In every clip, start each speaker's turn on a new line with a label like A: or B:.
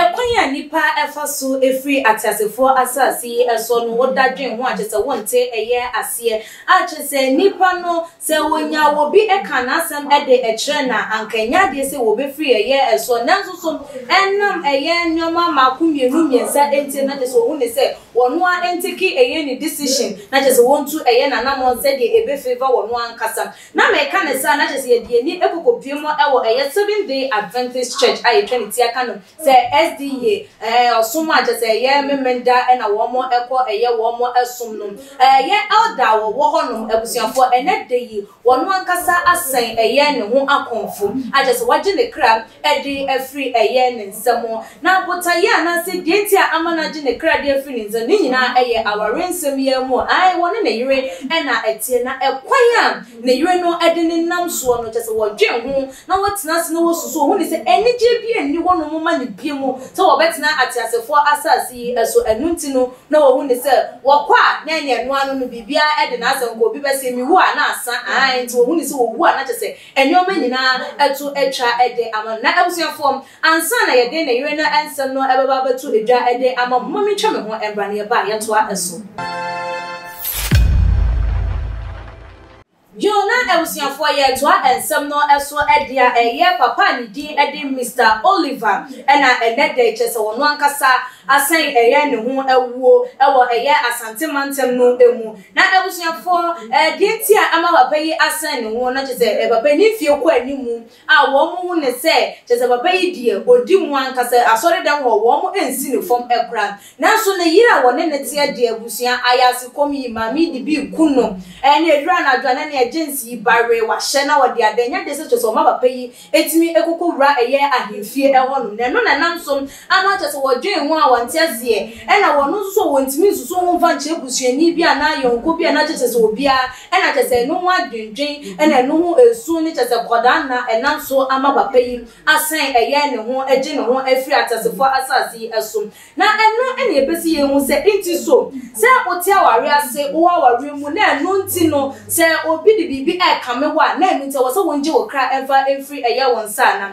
A: ɛkwan a nipa ɛfa so efiri ateasefoɔ asase yi ɛso no woda dwen ho akyɛ sɛ wonte ɛyɛ aseɛ akyɛ sɛ nipa no Sɛ wɔnya obi ka n'asɛm de kyerɛ no a, anka ɛnyɛ adeɛ sɛ wɔbɛfiri ɛyɛ soɔ. Nanso so ɛnam ɛyɛ nneɛma mmaako mmienu mmiɛnsa nti na kyerɛ sɛ ɔhu no sɛ ɔno ara ntake ɛyɛ ne decision, na kyerɛ sɛ ɔntu ɛyɛ n'anammɔn sɛdeɛ ɛbɛ favour ɔno ankasa? Na meka no saa na kyerɛ sɛ yɛde yɛn ani kɔkɔpue mu wɔ ɛyɛ Seventh Day Adventist Church a yɛtwa ne ti aka no Sɛ SDA eh ɔsom a kyɛsɛ ɛyɛ Memenda na wɔn ɛkɔ ɛyɛ wɔn ɛsom no eh yɛ Elder a wɔwɔ hɔ nom abusuafoɔ ɛnɛ da yi wɔn ankasa asɛn ɛyɛ ne ho akɔmfo a kyɛsɛ wagye ne kra ɛde afiri ɛyɛ ne nsam na botaeɛ anaasɛ deɛ nti a ama no agye ne kra de afiri ne nsam ne nyinaa ɛyɛ aware nsɛm yi ara mu ae wɔne ne yere ɛna ɛteɛ na ɛkwan a ne yere no ɛde ne nam soɔ no kyɛsɛ wɔdwen ho na wɔatena ase na wɔasusuw ho ne sɛ anigye biara nni hɔnom mma no bio sɛ wɔbɛtena ateasefoɔ asase yi so, ɛno nti no na wɔhu no sɛ wɔkɔ a na ɛne ɛno ano no biribiara de na asɛm kɔ, obi bɛse mewu a na asa, aane, nti wɔhu no sɛ wɔwu a na kyerɛ sɛ nneɛma nyinaa to atwa de ama no. Na abusuafoɔ, ansa na yɛde ne yere no nsɛm no bɛba abɛto dwa de ama mo, momma mentwa me ho mmra na yɛba a yɛtoa so. Jill na abusuafoɔ yɛ toa nsɛm no so dea ɛyɛ papa a ne din de Mister Oliver na ɛnɛ dɛ kyerɛ sɛ ɔno ankasa asɛn ɛyɛ ne ho awuo wɔ ɛyɛ Asante mantam no mu na abusuafoɔ deɛ nti a ama papa yi asɛn ne ho no kyerɛ sɛ papa yi ne mfie kɔ anim a wɔn hu no sɛ kyerɛ sɛ papa yi deɛ ɔdi mu ankasa, asɔredan hɔ wɔn nsi no fam koraa. Nanso ne yere a wɔne no teɛ de abusua ayaase kɔm yi maa me de bi ku no. Ɛnna ɛduru anadwo a na nea James yi bare wahyɛ na ɔde ada nyɛ de sɛ kyerɛ sɛ ɔma papa yi tumi kɔkɔwura ɛyɛ ahemfie hɔnom na ɛno na ɛnam so Ana kyerɛ sɛ wɔdwen ho a wɔnte aseɛ? Ɛna wɔn nso so wɔntumi nsusu ho mfa nkyerɛ busuani bi anaa yɔnko bi anaa kyerɛ sɛ sɛ obiara, ɛna kyerɛ sɛ ɛno ho adwendwen ɛna ɛno ho ɛsu ne kyerɛ sɛ kɔdaa na ɛnam so ama papa yi asan ɛyɛ ne ho ɛgye ne ho afiri ateasefoɔ asase yi so na ɛno ɛna ɛbɛsi yɛn hu sɛ nti so sɛ wote awareɛ ase wowɔ awareɛ mu na ɛno nti no sɛ obi de biribi ɛrekame wo a na ɛno nti ɛwɔ sɛ wongye wo kra ɛmfa ɛmfiri ɛyɛ wo nsa anaa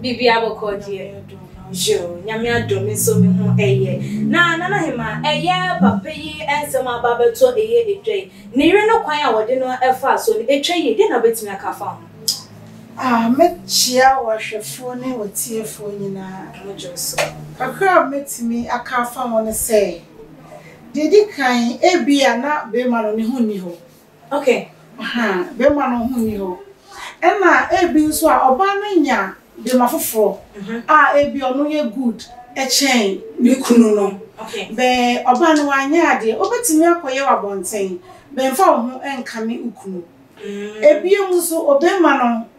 A: Biribiara bɔkɔɔ deɛ yoo Nyame adom nso me ho ɛyɛ na Nana Hemaa ɛyɛ papa yi nsɛm a aba abɛtɔ ɛyɛ ɛdwa yi ne yere no kwan a wɔde no ɛfaa soɔ no ɛtwa yie deɛ na wobɛtumi aka afa ho? Ah mɛkyia
B: wo ahwɛfoɔ ne wo tiefoɔ nyinaa. Mo dwo so. Kakra a mɛtumi aka afa ho ne sɛ deɛ ɛdi kan ebia na bɛɛma no ne ho nni hɔ Ok, ahaa,
A: barima
B: no ho nni hɔ. Ɛna ebi nso a ɔbaa no anya bema foforɔ a ebia ɔno yɛ good kyɛn ne kunu no. Bɛn
A: ɔbaa no
B: wanyɛ adeɛ, wobɛtumi akɔyɛ wɔ abɔnten, bɛn fa wo ho nkame wo kunu. Ebiem nso, obarima no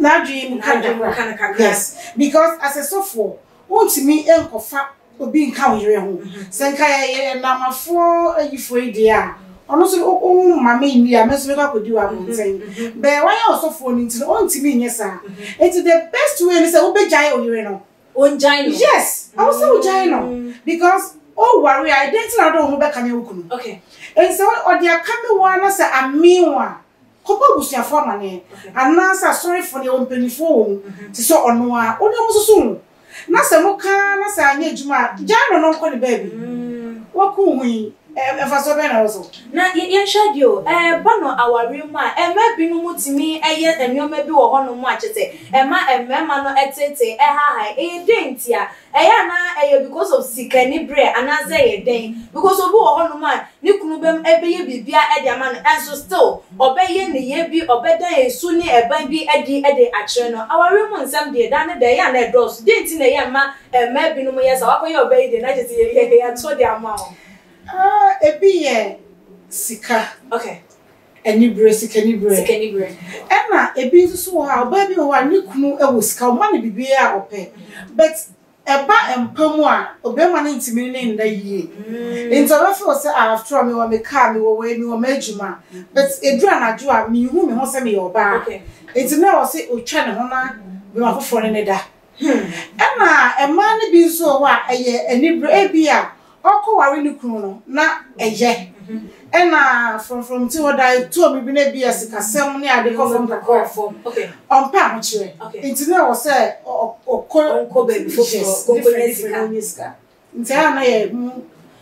B: n'adwene mu kakra. Yes, because as a sɔfoɔ, wontumi nkɔfa obi nka wo yere ho. Sɛ nka yɛyɛ nnamafoɔ ayifoɔ yi deɛ a, ɔno nso wo wo mma me nni a, me nso mɛkɔ akɔdi wɔ abɔnten. Bɛɛ wayɛ ɔsɔfoɔ no nti no, ɔntumi nyɛ saa. Nti the best way ne sɛ wobɛgyae wo yere no. Ɔngyae no? Yes,
A: ɛwɔ sɛ wogyae
B: no because woware a, ɛdeɛn nti na wode wo ho bɛkame wo kunu? Nti sɛ
A: ɔde
B: akame wo ara na sɛ amee wo a, Kɔbɔ abusuafo amanneɛ, anaasɛ asɔrefo no, yɛwɔ mpanyimfo wɔ mu te sɛ ɔno a wo ne wɔn susuw ho, na sɛ moka ara na sɛ anyɛ adwuma a, gyae no na ɔnkɔ ne baabi. Woaku wo ho yi, mfaso bɛn na ɛwɔ so? Na yɛnhwɛ
A: bio, ɛba no aware mu a, mmaa binom tumi yɛ nneɛma bi wɔ hɔnom a kyerɛ sɛ ɛma mmarima no teetee, ɛhaahae. Ɛyɛ dɛn ntia? Ɛyɛ a na ɛyɛ because of sika ani berɛ anaa sɛ ɛyɛ dɛn? Because obi wɔ hɔ nom a ne kunu bɛm ɛbɛyɛ biribiara de ama no ɛnso still ɔbɛyɛ nneyɛɛ bi ɔbɛdan ɛsu ne ɛban bi adi de akyerɛ no. Awareɛ mu nsɛm deɛ daa ne da ɛyɛ a na ɛdɔɔso. Deɛ nti na ɛyɛ a mma mmaa bi nom yɛ saa? Wakɔyɛ ɔbaa yi deɛ na gye sɛ yɛyɛ yɛto de ama wo. Ah ebi
B: yɛ sika. Okay.
A: Anibere,
B: sikanibere. Sikanibere.
A: Ɛna ebi
B: nso so wɔ hɔ a, ɔbaa bi wɔ hɔ a ne kunu wɔ sika, ɔma no biribiara a ɔpɛ. But ɛba mpa mu a, ɔbarima no ntumi ne no nna yie. Nti ɔbɛ feel sɛ ah after all mewɔ me car, mewɔ wei, mewɔ m'adwuma. But ɛduru anadwo a, menhu me ho sɛ meyɛ ɔbaa. Nti na ɛwɔ
A: sɛ
B: ɔtwa ne ho na bɛma foforɔ ne no da. Ɛna mmaa no bi nso wɔ hɔ a ɛyɛ anibere ebi a ɔkɔware ne kunu no na ɛyɛ ɛna frɔmfrɔm ti hɔ da etuo mi bi na ebi yɛ sikasɛm ne ade kɔ fam kakra ɔmpɛ
A: ahokyerɛ
B: nti na ɛwɔ sɛ ɔkɔ ɔkɔ baabi foforɔ
A: ɔkɔ nyɛ sika.
B: Nti a na yɛ mu.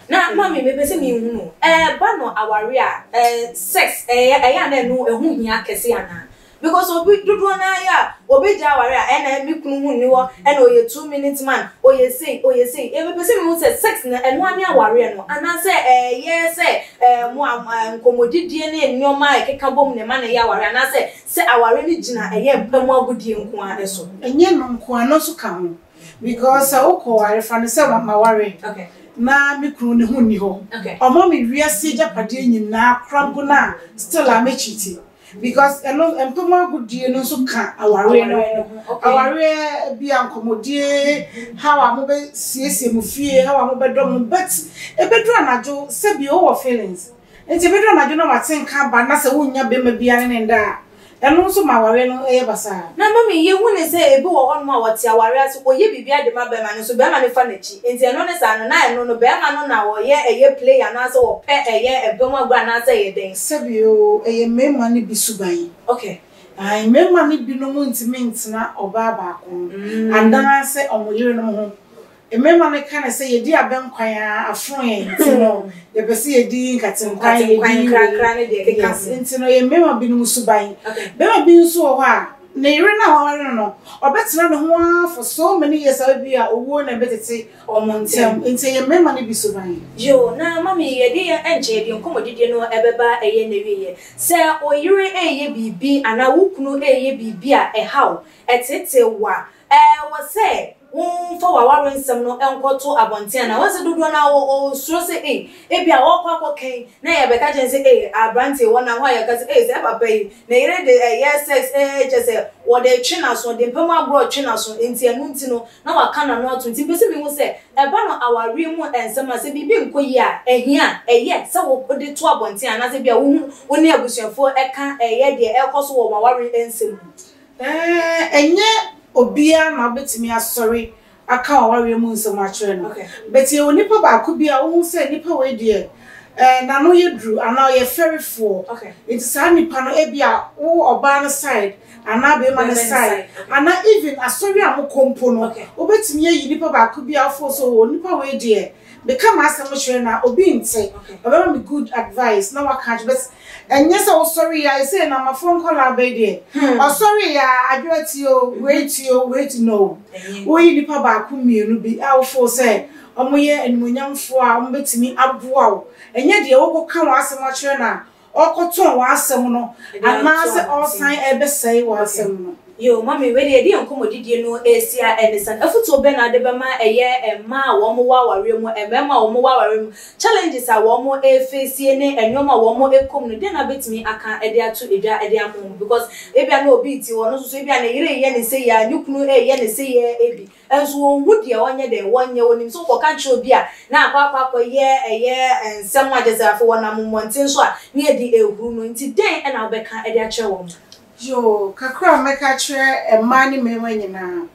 B: Na mommy
A: me pɛ sɛ me hunu o, ɛɛ ba no aware a ɛɛ sex ɛɛ ɛyɛ a na ɛno ɛho hia kɛse anaa? Because obi dodoɔ naa yɛ a obɛgya aware a ɛna me kunu ho nni hɔ ɛna ɔyɛ two minute man ɔyɛ sei ɔyɛ sei ɛɛ me pɛ sɛ me hunu sɛ sex no ɛno ara ne awareɛ no anaa sɛ ɛɛ yɛ sɛ ɛɛ mo a ɛɛ nkɔmɔdidie ne nnoɔma a ɛkeka bom na ɛma no yɛ awareɛ anaa sɛ sɛ awareɛ no gyina ɛyɛ mpa mu agodie nko ara so. Ɛnyɛ ɛno nko ara, ɛno
B: nso ka ho. Because sɛ wokɔ ware fa no sɛ mama ware na
A: me kunu ne
B: ho nni hɔ ɔma me wiase agyapadeɛ nyinaa kora go no a still a mɛ cheati because ɛno mpam agodie no nso ka awareɛ no ho awareɛ bi a nkɔmɔdie how a mobɛ siesie mo fie how a mobɛdɔ mo but ɛbɛduru anadwo sɛbi wowɔ feelings Enti bere bi anadwo na wate nka aba na sɛ wonnya bɛma biara ne no nda a, ɛno nso ma aware no yɛ basaa. Na mmom yehu no
A: sɛ ebi wɔ hɔnom a wɔte aware ase kɔyɛ biribiara de ma bɛma no nso bɛma no fa n'akyi. Enti ɛno ne saa no, na ɛno no bɛma no na ɔyɛ ɛyɛ play anaasɛ ɔpɛ ɛyɛ ɛbɛ mu agorɔ anaasɛ ɛyɛ dɛn. Sɛbi o, ɛyɛ
B: mmarima no bi suban. Okay.
A: Ae, mmarima
B: no binom ntumi ntena ɔbaa baako ho anaasɛ wɔn yerenom ho Mmarima no ka no sɛ, Yɛdi abɛn kwan ara, afono yɛn, nti no, yɛpɛ sɛ yɛdi nkatenkwan, yɛdi wei, keka
A: ho. Nti no, ɛyɛ mmarima
B: binom suban. Barima bi nso wɔ hɔ a, ne yere no a waware no no, ɔbɛtena ne ho ara for so many years a ebia owuo na ɛbɛtete wɔn ntam. Nti ɛyɛ mmarima no bi suban. Yoo, na Mami,
A: yɛde yɛn ɛnkyɛ yɛde nkɔmmɔdidie no ɛbɛba ɛyɛ n'awieɛ. Sɛ oyere reyɛ biribi anaa wo kunu reyɛ biribi a ɛhaw, ɛteetee wo a, Ɛwɔ sɛ womfa w'aware nsɛm no nkɔto abɔnten anaa? Woahu sɛ dodoɔ no ara wɔ hɔ suro sɛ ei, ebia wɔrekɔ akɔka yi na yɛbɛka akyerɛ no sɛ ei, aberanteɛ wɔ nahɔ a yɛka sɛ ei, saa papa yi, ne yere de ɛyɛ sex ee, kyerɛ sɛ wɔde retwe n'aso, ɔde mpamu agorɔ retwe n'aso, enti ɛno nti no, na waka n'ano atom. Nti mepɛ sɛ mehu sɛ, ɛba no awareɛ mu nsɛm a, sɛ biribi nkɔ yie a, ɛhia a, ɛyɛ sɛ wode to abɔnten anaasɛ ebia wohu wo ne abusuafoɔ ka ɛyɛ deɛ ɛrekɔ so wɔ mo aware nsɛm mu?
B: Ɛnyɛ obiara na wobɛtumi asɔre aka w'awareɛ mu nsɛm akyerɛ no. But yɛwɔ nipa baako bi a wohu sɛ nipa wei deɛ n'ano yɛ duru anaa ɔyɛ fɛrefoɔ. Nti saa nipa no ebia wo ɔbaa no side anaa barima no side anaa even asɔre a mokɔ mpo no wobɛtumi ayi nipa baako bi a wo feel sɛ oh nipa wei deɛ. Meka m'asɛm kyerɛ no a, obi nte. Ɔbɛma me good advice na waka akyerɛ me but ɛnyɛ sɛ wosɔreeɛ ara, sei no Amafoɔ nkwadaa bɛyi deɛ, ɔsɔreeɛ ara, Adwoa ti o, wei ti o, wei ti, no. Woyi nnipa baako mmienu bi a wo feel sɛ wɔyɛ animuonyamfoɔ a wɔbɛtumi aboa wo, ɛnyɛ deɛ wokɔka w'asɛm akyerɛ no a, ɔrekɔtɔn w'asɛm no anaasɛ ɔresan rebɛsɛe w'asɛm no. Yoo, Mame, wei deɛ yɛde
A: yɛn nkɔmmɔdidie no resi a ɛne sɛn? Afotuo bɛn na wode bɛma ɛyɛ mmaa a wɔwɔ awareɛ mu, mmarima a wɔwɔ awareɛ mu, challenges a wɔreface ne nneɛma a wɔrekɔ mu no, dɛn na wobɛtumi aka de ato dwa de ama wɔn? Because ebia na obi te hɔ, ɔno nso so ebia ne yere reyɛ no sei ara, ne kunu reyɛ no sei ara bi. Nso wɔnhu deɛ wɔnyɛ dɛn wɔnyɛ, wɔnim sɛ wokɔka kyerɛ obi a na akɔ akɔ akɔyɛ ɛyɛ nsɛm a kyerɛ sɛ afei wɔnam mmɔnten so a ne adi ɛhuru no, nti dɛn na wobɛka de akyerɛ wɔn? Yoo, kakra
B: a mɛka akyerɛ mmaa ne mmarima nyinaa,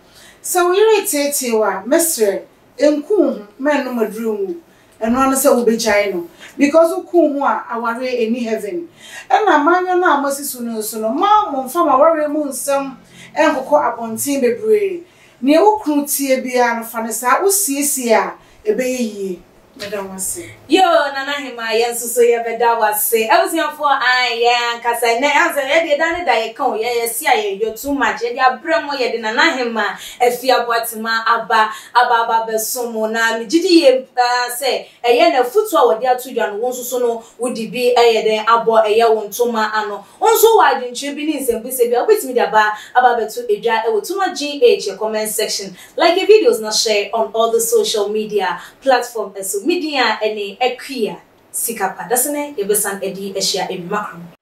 B: sɛ wo yere reteetee wo a, mɛsrɛ, nku wo ho, mma ɛnnom aduru nwu, Ɛno ara ne sɛ wobɛgyae no because wokuu ho a awareɛ ɛnni heaven. Ɛna manyɔ no a moasi so no nso no, mma momfa mo awareɛ mu nsɛm nkokɔ abɔnten bebree. Deɛ wo kunu teɛ biara no fa no saa, wosiesie a ɛbɛyɛ yie. Meda wo ase. Yoo Nana
A: Hemaa yɛn nso so yɛ bɛ da wo ase Abusuafoɔ ae yɛn ankasa ɛnɛ ahu sɛ yɛdeɛ da ne da yɛ ka o yɛ yɛ se a yɛ yɔ too much yɛde abrɛ mo yɛde Nana Hemaa Afie Aboatemaa aba Aba aba abɛso mo, na megye di yie paa sɛ ɛyɛ na afutuo a wɔde ato dwa no, wo nso so no wode bi ayɛ dɛn abɔ ɛyɛ wo ntoma ano. Wo nso wowɔ adwenkyerɛ bi ne nsɛmbusa bi a wobɛtumi de aba aba abɛto dwa wɔ Tuma GH yɛ comment section. Like yɛ videos na share on all the social media platform so. Me din a ɛne Akua Sikapa. Dasene yɛbɛsan adi ahyia adwuma koro.